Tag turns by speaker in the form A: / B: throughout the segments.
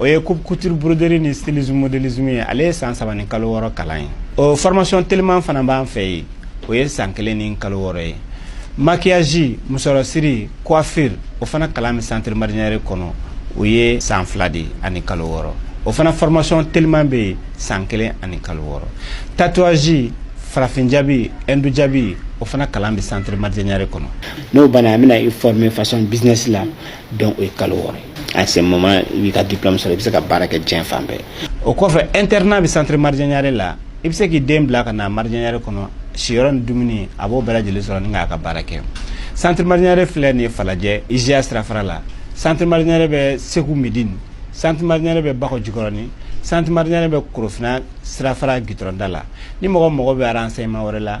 A: o ye coupe couture broderie ni stylisme modélisme ye ale ye san saba ni kalo wɔɔrɔ kalan ye o formation teliman fana b'an fɛ yen o ye san kelen ni kalo wɔɔrɔ ye maquillage musɔrɔsiri coiffure o fana kalan bɛ centre Marijɛ Ɲare kɔnɔ o ye san fila de ani kalo wɔɔrɔ o fana formation teliman bɛ yen san kelen ani kalo wɔɔrɔ tatouage farafin jabi hindu jabi o fana kalan bɛ centre Marijɛ Ɲare kɔnɔ n'o banna an bɛna
B: i former façon business la donc o ye kalo wɔɔrɔ ye à ce moment i b'i ka diplôme sɔrɔ i bɛ se ka baara kɛ diɲɛ fan bɛɛ o
A: kɔfɛ internat bɛ centre Marijɛ Ɲare la i bɛ se k'i den bila ka na Marijɛ Ɲare kɔnɔ siyɔrɔ ni dumuni a b'o bɛɛ lajɛlen sɔrɔ ni k'a ka baara kɛ centre Marijɛ Ɲare filɛ nin ye falajɛ IJA sirafara la centre Marijɛ Ɲare bɛ segu medini centre Marijɛ Ɲare bɛ bakɔ jikɔrɔni centre Marijɛ Ɲare bɛ korofina sirafara gitɔrɔnda la ni mɔgɔ mago bɛ renseignement wɛrɛ la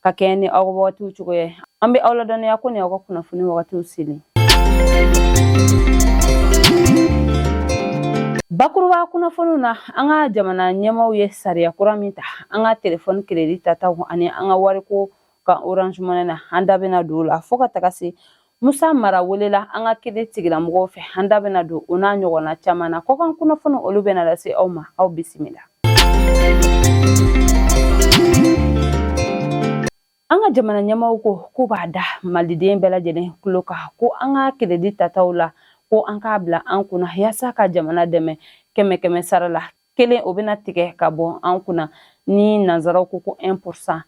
C: ka kɛɲɛ ni aw ka wagatiw cogoya ye an bɛ aw ladɔnniya ko ni aw ka kunnafoni wagatiw selen bakuruba kunnafoniw na an ka jamana ɲɛmaaw ye sariya kura min ta an ka telefɔni keredi tataw ani an ka wariko kan orange money na an da bɛna don o la fɔɔ ka taga se Musa mara welela an ka kiri tigilamɔgɔw fɛ an da bɛna don o n'a ɲɔgɔnna caman na kɔkan kunnafoniw olu bɛna lase aw ma aw bisimila an ka jamana ɲɛmaaw ko k'u b'a da maliden bɛɛ lajɛlen tulo kan ko an ka keredi tataw la ko an k'a bila an kunna yaasa ka jamana dɛmɛ kɛmɛ kɛmɛ sara la kelen o bɛna tigɛ ka bɔ an kunna ni nanzaraw ko ko 1 pourcent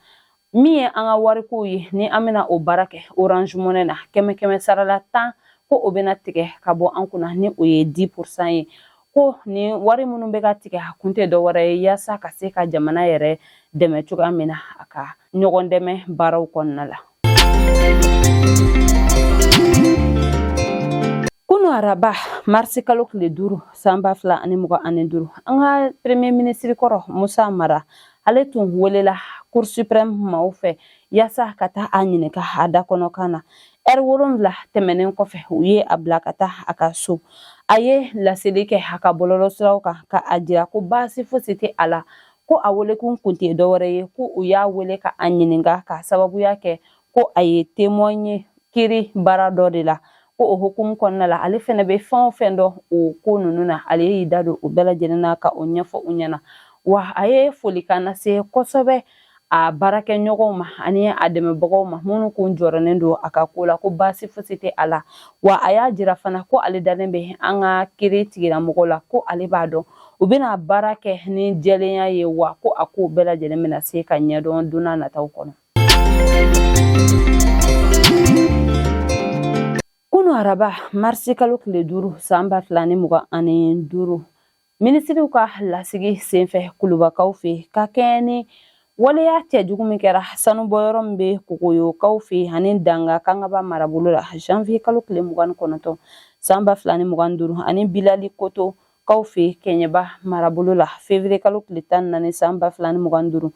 C: min ye an ka warikow ye ni an bɛna o baara kɛ orange money na kɛmɛ kɛmɛ sarala tan ko o bɛna tigɛ ka bɔ an kunna ni o ye 10 pourcent ye ko nin wari minnu bɛ ka tigɛ a kun tɛ dɔwɛrɛ ye yaasa ka se ka jamana yɛrɛ dɛmɛ cogoya min na a ka ɲɔgɔn dɛmɛ baaraw kɔnɔna la Kunu araba marisi kalo tile duuru san ba fila ani mugan ani duuru an ka premye minisiri kɔrɔ musa mara ale tun welela cour suprême maaw fɛ yaasa ka taa a ɲininka a da kɔnɔ kan na ɛri wolonwula tɛmɛnen kɔfɛ u ye a bila ka taa a ka so a ye laseli kɛ a ka bɔlɔlɔ siraw kan ka a jira ko baasi fosi tɛ a la ko a welekun kun tɛ dɔwɛrɛ ye ko u y'a wele ka a ɲininka k'a sababuya kɛ ko a ye temɔn ye kiri baara dɔ de la ko o hukumu kɔnɔna la ale fɛnɛ bɛ fɛn o fɛn dɔn o ko ninnu na ale y'i da don o bɛɛ lajɛlen na ka o ɲɛfɔ u ɲɛna wa a ye folikan lase kosɛbɛ a baarakɛɲɔgɔnw ma ani a dɛmɛbagaw ma minnu kun jɔrɔnen don a ka ko la ko baasi fosi tɛ a la wa a y'a jira fana ko ale dalen bɛ an ka kiri tigilamɔgɔ la ko ale b'a dɔn u bɛna baara kɛ ni jɛlenya ye wa ko a ko bɛɛ lajɛlen bɛna se ka ɲɛdɔn don nataw kɔnɔ Kunun araba marisi kalo tile duuru san ba fila ni mugan ani duuru minisiriw ka lasigi senfɛ kulubakaw fɛ ka kɛɲɛ ni waleya cɛjugu min kɛra sanubɔyɔrɔ min bɛ kogoyokaw fɛ ani danga kangaba marabolo la janvier kalo tile mugan ni kɔnɔntɔn san ba fila ni mugan duuru ani bilali koto kaw fɛ kɛɲɛba marabolo la fevrier kalo tile tan ni naani san ba fila ni mugan ni duuru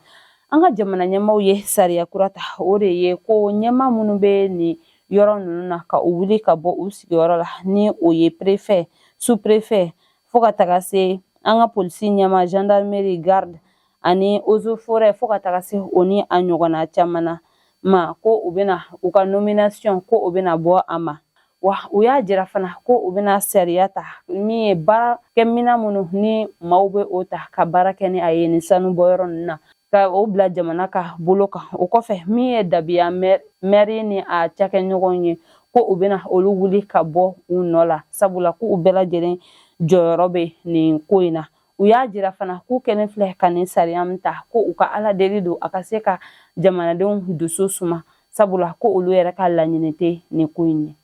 C: an ka jamana ɲɛmaaw ye sariya kura ta o de ye ko ɲɛmaa minnu bɛ nin yɔrɔ ninnu na ka u wuli ka bɔ u sigiyɔrɔ la ni o ye prefet sous prefet fo ka taga se an ka polisi ɲɛmaa gendarmerie garde ani eaux et forêts fo ka taga se o ni a ɲɔgɔnna caman na ma ko u bɛna u ka nomination ko u bɛna bɔ a ma wa u y'a jira fana ko u bɛna sariya ta min ye baarakɛmina minnu ni maaw bɛ o ta ka baara kɛ ni a ye nin sanubɔyɔrɔ ninnu na ka o bila jamana ka bolo kan o kɔfɛ min ye dabiya mɛri ni a cakɛɲɔgɔn ye ko u bɛna olu wuli ka bɔ u nɔ la sabula ko u bɛɛ lajɛlen jɔyɔrɔ bɛ nin ko in na u y'a jira fana k'u kɛlen filɛ ka nin sariya min ta ko u ka ala deli don a ka se ka jamanadenw dusu suma sabula ko olu yɛrɛ ka laɲini tɛ nin ko in ye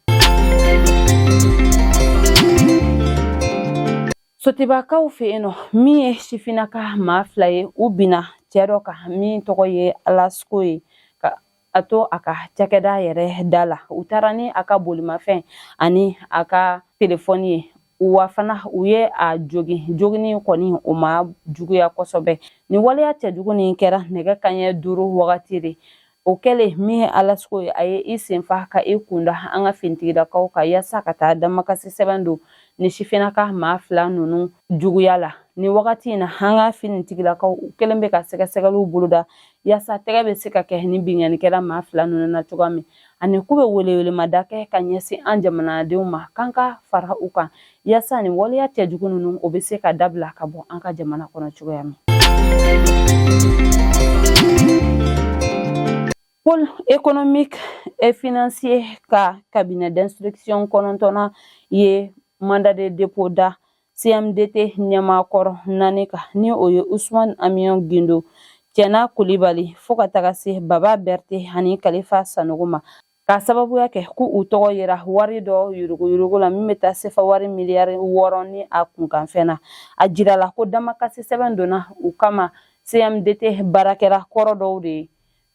C: sotibakaw fɛ yen nɔ min ye sifinnaka maa fila ye u binna cɛ dɔ kan min tɔgɔ ye alasko ye a to a ka cakɛda yɛrɛ da la u taara ni a ka bolimafɛn ani a ka telefɔni ye wa fana u ye a jogi jogini kɔni o ma juguya kosɛbɛ nin waleya cɛjugu nin kɛra nɛgɛ kanɲɛ duuru wagati de o kɛlen min ye alasko ye a ye i senfa ka i kunda an ka finitigilakaw kan yaasa ka taa damakasi sɛbɛn don nin sifinnaka maa fila ninnu juguya la nin wagati in na an ka finitigilakaw u kɛlen bɛ ka sɛgɛsɛgɛliw boloda yaasa tɛgɛ bɛ se ka kɛ nin binkannikɛla maa fila ninnu na cogoya min ani k'u bɛ welewelemada kɛ ka ɲɛsin an jamanadenw ma k'an ka fara u kan yaasa nin waleya cɛjugu ninnu o bɛ se ka dabila ka bɔ an ka jamana kɔnɔ cogoya min pôle économique et financier ka cabinet d'instruction kɔnɔntɔnnan ye mandat de dépôt da CMDT ɲɛmaa kɔrɔ naani kan ni o ye Usman Amiyon Gindo Cɛna Kulibali fo ka taga se Baba Bɛrite ani Kalifa Sanogo ma k'a sababuya kɛ ko u tɔgɔ yera wari dɔ yuruguyurugu la min bɛ taa sefa wari miliyari wɔɔrɔ ni a kunkanfɛn na a jirala ko damakasi sɛbɛn donna u kama CMDT baarakɛla kɔrɔ dɔw de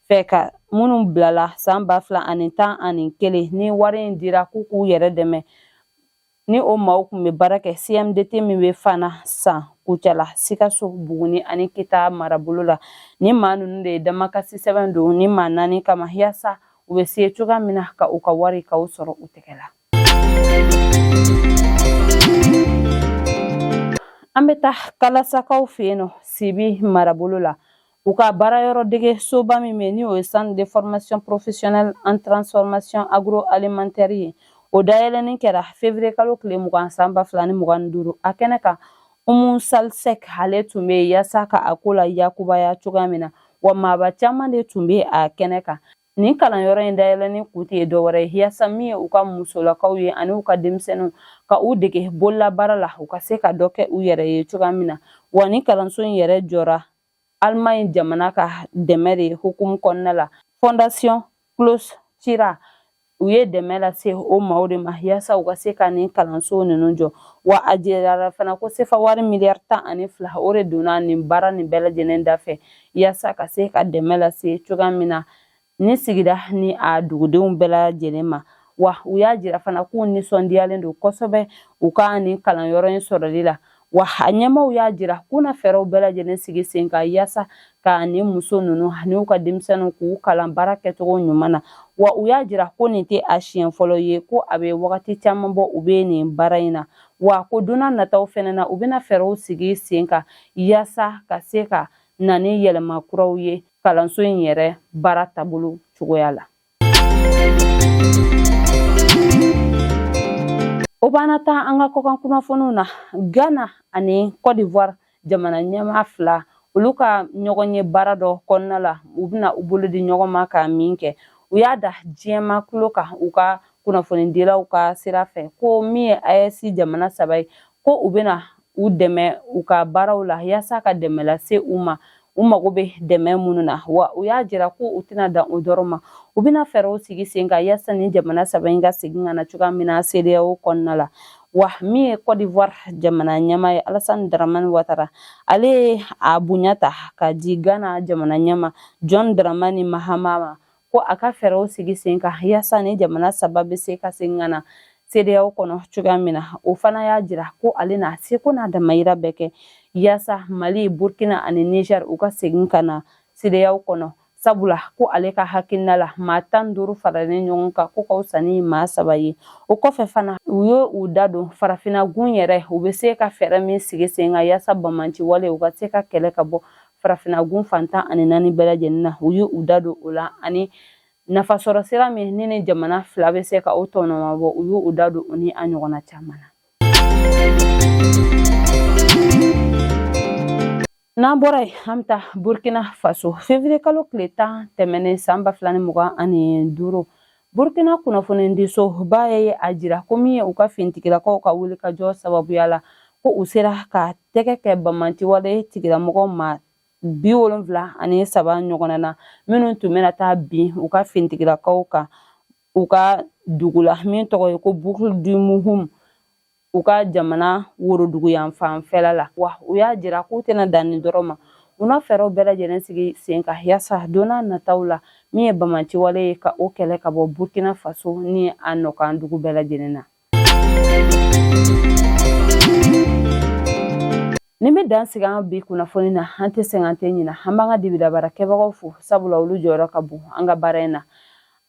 C: fɛ ka minnu bilala san ba fila ani tan ani kelen ni wari in dira k'u k'u yɛrɛ dɛmɛ ni o maaw kun bɛ baara kɛ cmdt min bɛ fana san kucala sikaso buguni ani kita marabolo la ni maa ninnu de ye damakasi sɛbɛn don ni maa naani kama yaasa u bɛ se cogoya min na ka u ka wari ka u sɔrɔ u tɛgɛ la an bɛ taa kalasakaw fɛ yen nɔ sibi marabolo la U ka baara yɔrɔ dege soba min bɛ n'o ye centre de formation professionnelle en transformation agroalimentaire ye o dayɛlɛni kɛra février kalo tile mugan san ba fila ni mugan ni duuru a kɛnɛ kan Oumou Sall Seck ale tun bɛ yaasa ka a ko la yakubaya cogoya min na wa maaba caman de tun bɛ a kɛnɛ kan nin kalanyɔrɔ in dayɛlɛni kun tɛ dɔwɛrɛ ye yaasa min ye u ka musolakaw ye ani u ka denmisɛnninw ka u dege bololabaara la u ka se ka dɔ kɛ u yɛrɛ ye cogoya min na wa ni kalanso in yɛrɛ jɔra Allemagne jamana ka dɛmɛ de hukumu kɔnɔna la fondation Klaus Tschira u ye dɛmɛ lase o maaw de ma yaasa u ka se ka nin kalanso ninnu jɔ wa a jirala fana ko sefa wari miliyari tan ani fila o de donna nin baara nin bɛɛ lajɛlen da fɛ yaasa ka se ka dɛmɛ lase cogoya min na ni sigida ni a dugudenw bɛɛ lajɛlen ma wa u y'a jira fana k'u nisɔndiyalen don kosɛbɛ u ka nin kalanyɔrɔ in sɔrɔli la wa a ɲɛmaaw y'a jira k'u na fɛɛrɛw bɛɛ lajɛlen sigi sen kan yaasa ka ni muso ninnu ani u ka denmisɛnninw k'u kalan baara kɛcogo ɲuman na wa u y'a jira ko nin tɛ a siɲɛ fɔlɔ ye ko a bɛ wagati caman bɔ u bɛ nin baara in na wa ko donna nataw fɛnɛ na u bɛna fɛɛrɛw sigi sen kan yaasa ka se ka na ni yɛlɛma kuraw ye kalanso in yɛrɛ baara taabolo cogoya la o b'an nataa an ka kɔkan kunnafoniw na ghana ani cote d'ivoire jamana ɲɛmaa fila olu ka ɲɔgɔn ye baara dɔ kɔnɔna la u bɛna u bolo di ɲɔgɔn ma ka min kɛ u y'a da diɲɛ maa kulo kan u ka kunnafonidilaw ka sira fɛ ko min ye AES jamana saba ye ko u bɛna u dɛmɛ u ka baaraw la yaasa ka dɛmɛ lase u ma u mago bɛ dɛmɛ minnu na wa u y'a jira ko u tɛna dan o dɔrɔn ma u bɛna fɛɛrɛw sigi sen kan yaasa ni jamana saba in ka segin ka na cogoya min na CEDEAO kɔnɔna la wa min ye Cote d'Ivoire jamana ɲɛmaa ye Alassane Dramane Ouattara ale ye a bonya ta ka di Ghana jamana ɲɛmaa John Dramani Mahama ma ko a ka fɛɛrɛw sigi sen kan yaasa ni jamana saba bɛ se ka segin ka na cedeao kɔnɔ cogoya min na o fana y'a jira ko ale n'a seko n'a damayira bɛɛ kɛ yaasa mali burkina ani niger u ka segin ka na cedeao kɔnɔ sabula ko ale ka hakilina la maa tan duuru faralen ɲɔgɔn kan k'o ka fisa ni maa saba ye o kɔfɛ fana u ye u da don farafina gun yɛrɛ u bɛ se ka fɛɛrɛ min sigi sen kan yaasa banbaanci wale u ka se ka kɛlɛ ka bɔ farafinagun fan tan ani naani bɛɛ lajɛlen na u y'u da don o la ani nafasɔrɔ sira min ni nin jamana fila bɛ se ka o tɔnɔmabɔ u y'u da don o ni a ɲɔgɔnna caman na n'an bɔra yen an bɛ taa burkina faso fevriye kalo tile tan tɛmɛnen san ba fila ni mugan ani duuru Burkina kunnafonidisoba ye a jira ko min ye u ka finitigilakaw ka wulikajɔ sababuya la ko u sera ka tɛgɛ kɛ bamanciwale tigilamɔgɔ maa bi wolonfila ani saba ɲɔgɔnna na minnu tun bɛna taa bin u ka finitigilakaw kan u ka dugu la min tɔgɔ ye ko Boucle du Mouhoun u ka jamana woroduguyanfan fɛla la wa u y'a jira k'u tɛna dan nin dɔrɔn ma u na fɛɛrɛw bɛɛ lajɛlen sigi sen kan yaasa donna nataw la min ye bamanciwale ye ka o kɛlɛ ka bɔ burkina faso ni a nɔkan dugu bɛɛ lajɛlen na nin bɛ dan sigi an bi kunnafoni na an tɛ sɛgɛn an tɛ ɲina an b'an ka dibilabaara kɛbagaw fo sabula olu jɔyɔrɔ ka bon an ka baara in na